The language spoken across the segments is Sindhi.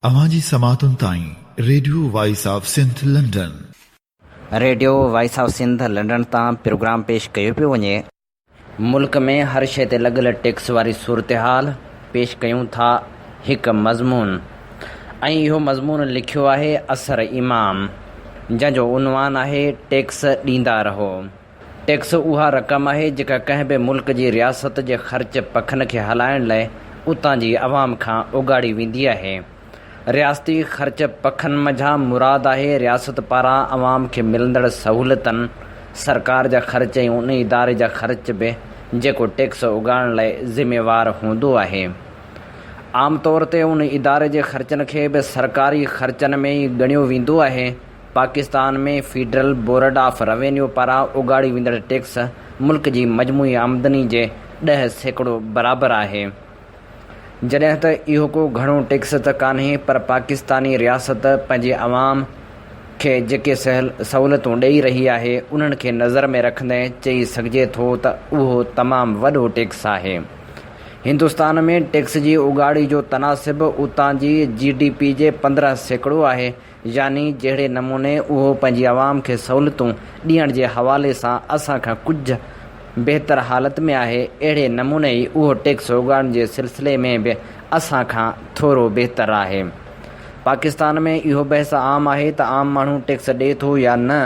اوهان جي سماعتن تائين radio voice of Sindh London. Radio voice of Sindh London تان پروگرام پيش ڪيو پيو وڃي. ملڪ ۾ هر شيء تي لڳل ٽيڪس واري صورتحال پيش ڪيون ٿا هڪ مضمون ۽ اهو مضمون لکيو آهي اثر امام جنهن جو عنوان آهي ٽيڪس ڏيندا رهو. ٽيڪس اها رقم آهي جيڪا ڪنهن به ملڪ جي رياست جي خرچ پکن کي هلائڻ لاء اتان جي عوام کان اوڳاڙي ويندي آهي. رياستي خرچ پکن منجهان مراد آهي رياست پاران عوام کي ملندڙ سهولتن، سرڪار جا خرچ ۽ ان اداري جا خرچ به جيڪو ٽيڪس اوڳاڙڻ لاء ذميوار هوندو آهي. عام طور تي ان اداري جي خرچن کي به سرڪاري خرچن ۾ ئي ڳڻيو ويندو آهي. Pakistan ۾ federal board of revenue پاران اڳاڙيو ويندڙ ٽيڪس ملڪ جي مجموعي آمدني جي ڏهه سيڪڙو برابر آهي. جڏهن ته اهو ڪو گهڻو ٽيڪس ته ڪانهي پر پاڪستاني رياست پنهنجي عوام کي جيڪي سهولتون ڏئي رهي آهي انهن کي نظر ۾ رکندي چئي سگهجي ٿو ته اهو تمام وڏو ٽيڪس آهي. هندستان ۾ ٽيڪس جي اڳاڙي جو تناسب اتان جي جي ڊي پي جي پندرهن سيڪڙو آهي يعني جهڙي نموني اهو پنهنجي عوام کي سهولتون ڏيڻ جي حوالي سان اسان کان ڪجهه بهتر حالت ۾ آهي، اهڙي نموني ئي اهو ٽيڪس اوڳاڙڻ جي سلسلي ۾ به اسان کان ٿورو بهتر آهي. پاڪستان ۾ اهو بحث عام آهي ته عام ماڻهو ٽيڪس ڏئي ٿو يا نه؟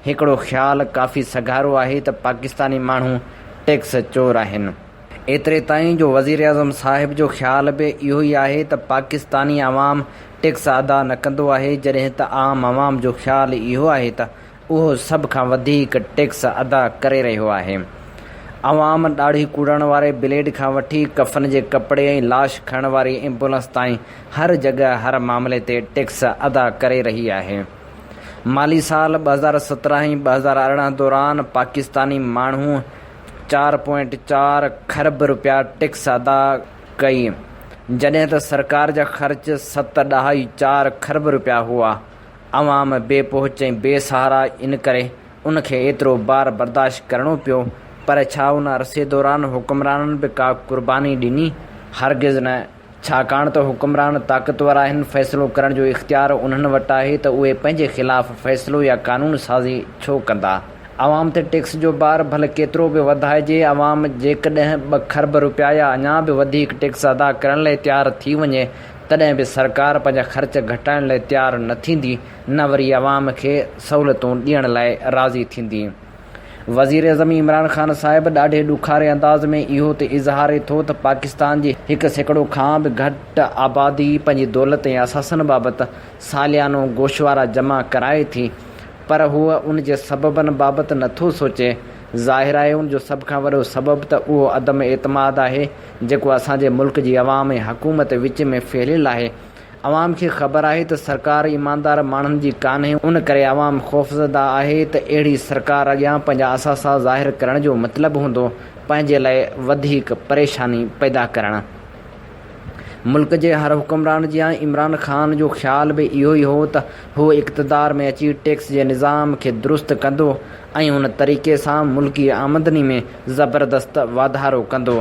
هڪڙو خيال ڪافي سگهارو آهي ته پاڪستاني ماڻهو ٽيڪس چور آهن. ايتري تائين جو وزيراعظم صاحب جو خيال به اهو ئي آهي ته پاڪستاني عوام ٽيڪس ادا نه ڪندو آهي جڏهن ته عام عوام جو خيال اهو آهي ته اهو سڀ کان وڌيڪ ٽيڪس ادا ڪري رهيو آهي. عوام ڏاڙهي ڪوڙڻ واري بليڊ کان وٺي ڪفن جي ڪپڙي ۽ لاش کڻڻ واري ايمبولنس تائين هر جڳهه هر معاملي تي ٽيڪس ادا ڪري رهي آهي. مالي سال ٻه هزار سترهن ۽ ٻه هزار ارڙهن دوران پاڪستاني ماڻهو چار پوائنٽ چار کرب رپيا ٽيڪس ادا ڪئي، جڏهن ته سرڪار جا خرچ ست ڏهائي چار کرب رپيا هئا. عوام بي پهچ ۽ بي سهارا ان ڪري ان کي ايترو بار برداشت ڪرڻو پيو، پر ڇا ان عرصي دوران حڪمرانن به ڪا قرباني ڏني؟ هرگز نه، ڇاڪاڻ ته حڪمران طاقتور آهن، فيصلو ڪرڻ جو اختيار انهن وٽ آهي ته اهي پنهنجي خلاف فيصلو يا قانون سازي ڇو ڪندا؟ عوام تي ٽيڪس جو بار ڀل ڪيترو به وڌائجي، عوام جيڪڏهن ٻه کرب روپيا يا اڃا به وڌيڪ ٽيڪس ادا ڪرڻ لئي تيار ٿي وڃي، تڏهن به سرڪار پنهنجا خرچ گهٽائڻ لئي تيار نه ٿيندي، نه وري عوام کي سهولتون ڏيڻ لاء راضي ٿيندي. وزيراعظم عمران خان صاحب ڏاڍي ڏکاري انداز ۾ اهو ته اظهاري ٿو ته پاڪستان جي هڪ سيڪڙو کان به گهٽ آبادي پنهنجي دولت ۽ اثاثن بابت ساليانو گوشوارا جمع ڪرائي ٿي پر هو ان جي سببن بابت نه ٿو سوچي. ظاهر آهي ان جو سڀ کان وڏو سبب ته اهو عدم اعتماد آهي جيڪو اسان جي ملڪ جي عوام ۽ حڪومت وچ ۾ ڦهليل آهي. عوام کي خبر آهي ته سرڪار ايماندار ماڻهن جي ڪانهي ان ڪري عوام خوفزده آهي ته اهڙي سرڪار اڳيان پنهنجا اثاثا ظاهر ڪرڻ جو مطلب هوندو پنهنجي لاء وڌيڪ پريشاني پيدا ڪرڻ. ملڪ جي هر حڪمران جيان عمران خان جو خيال به اهو ئي هو ته هو اقتدار ۾ اچي ٽيڪس جي نظام کي درست ڪندو ۽ ان طريقي سان ملڪي آمدني ۾ زبردست واڌارو ڪندو.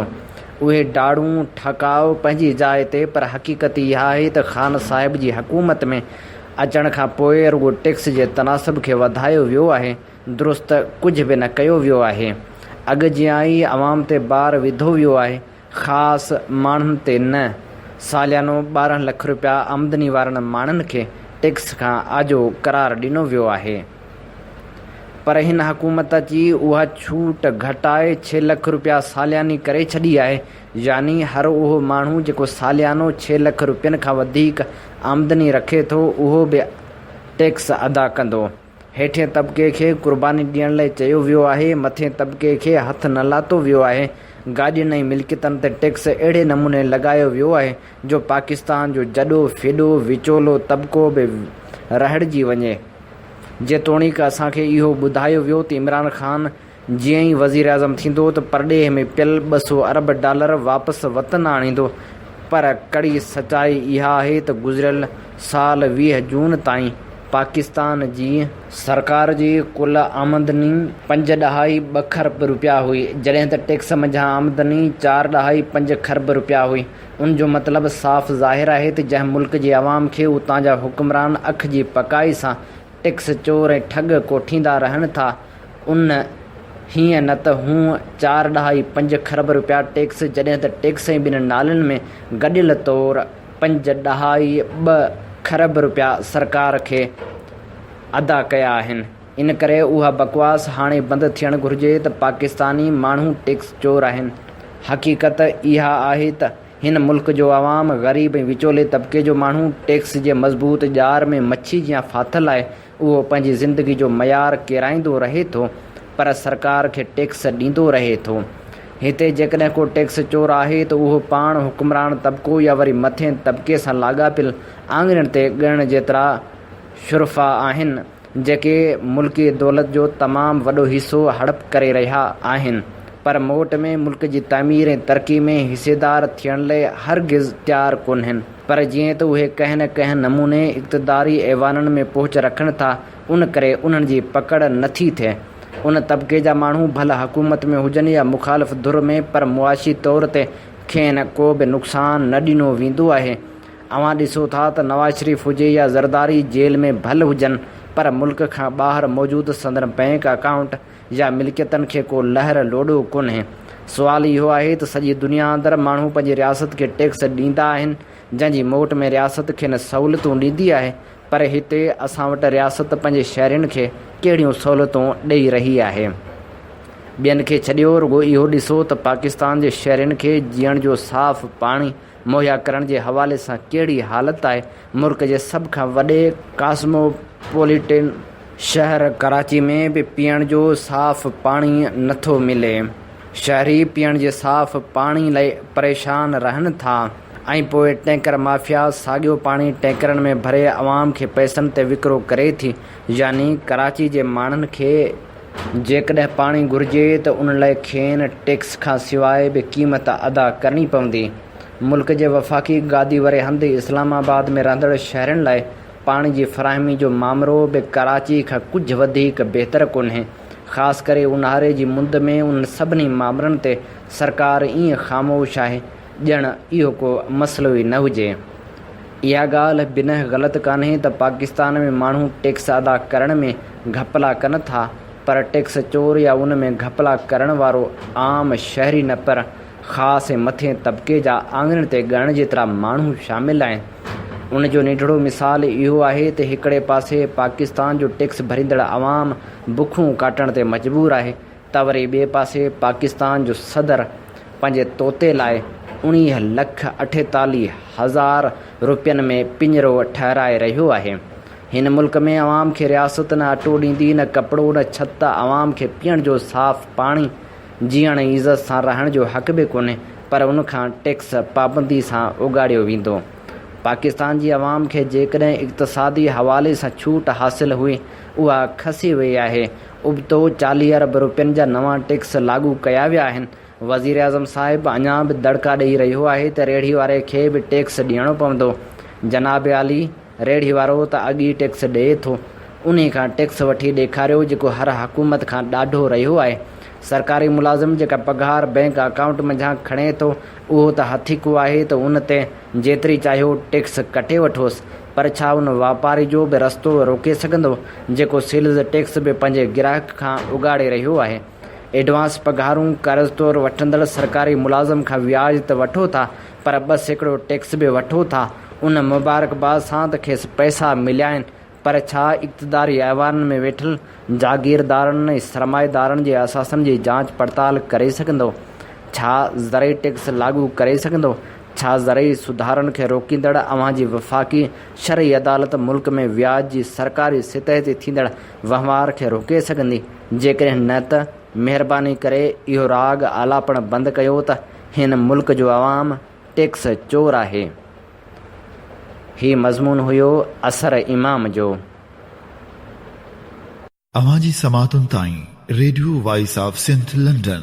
اهي ڊاڙون، ٺڪاء، پنهنجي جاء تي پر حقيقت اها آهي ته خان صاحب جي حڪومت ۾ اچڻ کان پوء رڳو ٽيڪس جي تناسب کي وڌايو ويو آهي، درست ڪجهه به نه ڪيو ويو آهي. اڳ جيان ئي عوام تي بار وڌو ويو آهي، خاص ماڻهن تي نه. ساليانو ٻارهن لک رپيا آمدني وارن ماڻهن کي ٽيڪس کان آجو قرار ڏنو ويو آهي. پر هن حڪومت اچي اها ڇوٽ گهٽائي ڇهه لک رپيا سالياني ڪري ڇڏي آهي، يعني هر اهو ماڻهو جيڪو ساليانو ڇهه لک رپين کان وڌيڪ آمدني رکي ٿو اهو به ٽيڪس ادا ڪندو. هيٺين طبقي کي قرباني ڏيڻ لئي چيو ويو آهي، مٿين طبقي کي هٿ نه لاتو ويو آهي، گاڏين ۽ ملڪيتن تي ٽيڪس اهڙي نموني لڳايو ويو آهي جو پاڪستان جو جڏو ڦڏو وچولو طبقو به رهڙجي وڃي. جيتوڻيڪ اسان کي اهو ٻڌايو ويو ته عمران خان جيئن ئي وزيراعظم ٿيندو ته پرڏيهه ۾ پيل ٻه سؤ ارب ڊالر واپس وطن آڻيندو پر ڪڙي سچائي اها آهي ته گذريل سال ويهه جون تائين پاڪستان جي سرڪار جي ڪل آمدني پنج ڏهائي ٻه کرب روپيا هئي جڏهن ته ٽيڪس منجهان آمدني چار ڏهائي پنج کرب روپيا هئي. ان جو مطلب صاف ظاهر آهي ته جنهن ملڪ جي عوام کي اتان جا حڪمران اک جي پڪائي سان ٽيڪس چور ۽ ٺڳ ڪوٺيندا رهن ٿا ان هينئن نه ته هونء چار ڏهائي پنج کرب رپيا ٽيڪس جڏهن ته ٽيڪس ۽ ٻن نالن ۾ گڏيل طور پنج ڏهائي ٻه کرب رپيا سرڪار کي ادا ڪيا آهن. ان ڪري اها بڪواس هاڻي بند ٿيڻ گهرجي ته پاڪستاني ماڻهو ٽيڪس چور آهن. حقيقت اها آهي ته هن ملڪ جو عوام، غريب ۽ وچولي طبقي جو ماڻهو ٽيڪس جي مضبوط ڄار ۾ مڇي جيان ڦاٿل آهي. اهو پنهنجي زندگي جو معيار ڪيرائيندو رهي ٿو پر سرڪار کي ٽيڪس ڏيندو رهي ٿو. هتي جيڪڏهن ڪو ٽيڪس چور آهي ته اهو پاڻ حڪمران طبقو يا وري مٿين طبقي سان لاڳاپيل آڱرين تي ڳڻڻ جيترا شرفا آهن. جيڪي ملڪي دولت جو تمام وڏو حصو هڙپ ڪري رهيا آهن پر موٽ ۾ ملڪ جي تعمير ۽ ترقي ۾ حصيدار ٿيڻ لئي هرگز تيار ڪونهن پر جيئن ته اهي ڪنهن نه ڪنهن نموني اقتداري ايوانن ۾ پهچ رکن ٿا ان ڪري انهن جي پڪڙ نٿي ٿئي ان طبقي جا ماڻهو ڀل حڪومت ۾ هجن يا مخالف ڌر ۾ پر معاشي طور تي کين ڪو به نقصان نه ڏنو ويندو آهي اوهان ڏسو ٿا ته نواز شريف هجي يا زرداري جيل ۾ ڀل هجن پر ملڪ کان ٻاهر موجود سندن بئنڪ اڪائونٽ يا ملڪيتن کي ڪو لهر لوڏو ڪونهي. سوال اهو آهي ته سڄي دنيا اندر ماڻهو پنهنجي رياست کي ٽيڪس ڏيندا آهن جنهن جي موٽ ۾ رياست کين سهولتون ڏيندي آهي پر هتي اسان وٽ رياست پنهنجي شهرين کي ڪهڙيون سهولتون ڏئي رهي آهي. ٻين کي ڇڏيو رڳو اهو ڏسو ته پاڪستان جي شهرين کي جيئڻ جو صاف پاڻي، مهيا ڪرڻ جي حوالي سان ڪهڙي حالت آهي، ملڪ جي سڀ کان وڏي ڪاسموپوليٽن شهر ڪراچي ۾ به پيئڻ جو صاف پاڻي نٿو ملي، شهري پيئڻ جي صاف پاڻي لئي پريشان رهن ٿا ۽ پوء ٽينڪر مافيا ساڳيو پاڻي ٽينڪرن ۾ ڀري عوام کي پئسن تي وڪرو ڪري ٿي يعني ڪراچي جي ماڻهن کي جيڪڏهن پاڻي گهرجي ته ان لاء کين ٽيڪس کان سواء به قيمت ادا ڪرڻي پوندي. ملڪ جي وفاقي گادي واري هنڌ اسلام آباد ۾ رهندڙ شهرين لاء پاڻي جي فراهمي جو مامرو به ڪراچي کان ڪجهه وڌيڪ بهتر ڪونهي. خاص ڪري اونهاري جي مند ۾ انهن سڀني مامرن تي سرڪار ائين خاموش آهي ڄڻ اهو ڪو مسئلو ئي نه هجي. اها ڳالهه بنهه غلط ڪانهي ته پاڪستان ۾ ماڻهو ٽيڪس ادا ڪرڻ ۾ گهپلا ڪن ٿا پر ٽيڪس چور يا ان ۾ گهپلا ڪرڻ وارو عام شهري نه پر خاص ۽ مٿئين طبقي جا آڱرين تي ڳڻڻ جيترا ماڻهو شامل آهن. ان جو نيٺڙو مثال اهو آهي ته هڪڙي پاسي پاڪستان جو ٽيڪس ڀريندڙ عوام بکون ڪاٽڻ تي مجبور آهي، ته وري ٻئي پاسي پاڪستان جو صدر پنهنجي طوطي لاء اڻيهه لک اٺيتاليهه هزار روپين ۾ پڃرو ٺهرائي رهيو آهي. هن ملڪ ۾ عوام کي رياست نه اٽو ڏيندي، نه ڪپڙو، نه ڇت، عوام کي پيئڻ جو صاف پاڻي، جيئڻ ۽ عزت سان رهڻ جو حق به ڪونهي پر ان کان ٽيڪس پابندي سان اوڳاڙيو ويندو. پاڪستان جي عوام کي جيڪڏهن اقتصادي حوالي سان ڇوٽ حاصل هئي اها کسي وئي آهي، ابتو چاليهه ارب روپين جا نوان ٽيڪس لاڳو ڪيا ويا آهن، وزيراعظم صاحب اڃا به دڙڪا ڏئي رهيو آهي ته ريڙهي واري کي به ٽيڪس ڏيڻو پوندو، جناب عالي ريڙهي وارو ته اڳ ئي ٽيڪس ڏئي ٿو، انهي کان ٽيڪس وٺي ڏيکاريو جيڪو هر حڪومت کان ڏاڍو رهيو آهي، سرڪاري ملازم جيڪا پگهار بئنڪ اڪائونٽ منجهان کڻي ٿو اهو ته هٿيڪو آهي ته ان تي جيتري چاهيو ٽيڪس ڪٽي وٺوس، پر ڇا ان واپاري جو به رستو روڪي سگهندو جيڪو سيلز ٽيڪس به پنهنجي گراهڪ کان اگهاڙي رهيو آهي. ايڊوانس پگهارون قرض طور وٺندڙ سرڪاري ملازم کان وياج ته وٺو ٿا پر ٻه سيڪڙو ٽيڪس به وٺو ٿا ان مبارڪباد سان ته کيس پئسا مليائين پر ڇا اقتداري ايوانن ۾ ويٺل جاگيردارن ۽ سرمائيدارن جي اثاثن جي جانچ پڙتال ڪري سگهندو ڇا زرعي ٽيڪس لاڳو ڪري سگهندو ڇا زرعي سڌارن کي روڪيندڙ اوهان جي وفاقي شرعي عدالت ملڪ ۾ وياج جي سرڪاري سطح تي ٿيندڙ وهنوار کي روڪي سگهندي؟ جيڪڏهن نه ته مهرباني ڪري اهو راڳ آلاپڻ بند ڪيو ته هن ملڪ جو عوام ٽيڪس چور آهي. هي مضمون هيو اثر امام جو. اوهان جي سماعتن تائين radio voice of Sindh London.